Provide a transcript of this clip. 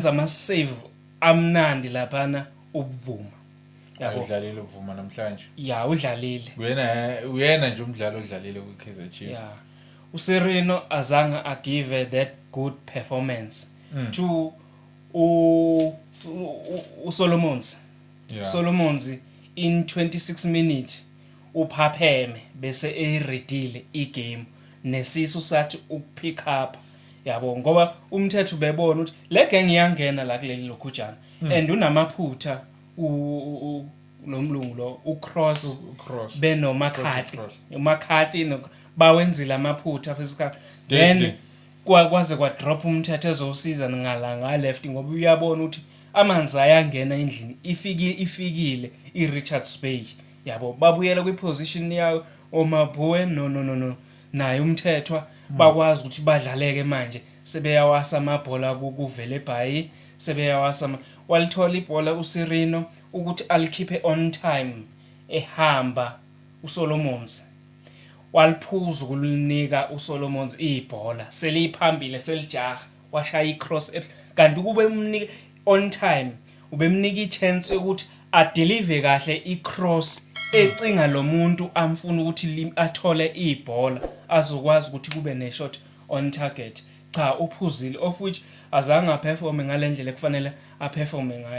Benza ama save amnandi laphana ubuvuma. Yabo. Udlalile ubuvuma namhlanje. Ya udlalile. Uyena uyena nje umdlali odlalile kwi Kaizer Chiefs. Ya. USerino azange a give that good performance mm. to u uSolomons. Yeah. Solomons in 26 minutes uphapheme bese eyiredile igame nesisu sathi ukupick up yabo ngoba umthetho ubebona ukuthi le gang iyangena la kuleli lokhujana mm. and unamaphutha lo mlungu lo ucross benomakhati umakhati bawenzile amaphutha fisikali then kwaze kwadrop umthetho ezosiza ngala ngaleft ngoba uyabona ukuthi amanzi ayangena endlini ifike ifikile i-Richards Bay yabo babuyela kwi-position yayo omabhuwe no no no no naye uMthethwa bakwazi ukuthi badlaleke manje sebeyawasa amabhola kuVelebhayi sebeyawasa walithola ibhola uSirino ukuthi alikhiphe on time ehamba uSolomons waliphuza ukulinika uSolomons ibhola seliphambile selijaha washaya icross kanti ukube umnike on time ubemnika ichance yokuthi adelive kahle icross ecinga lo muntu amfuna ukuthi athole ibhola azokwazi ukuthi kube neshot on target cha uphuzile of which azange aperforme ngale ndlela ekufanele aperforme ngayo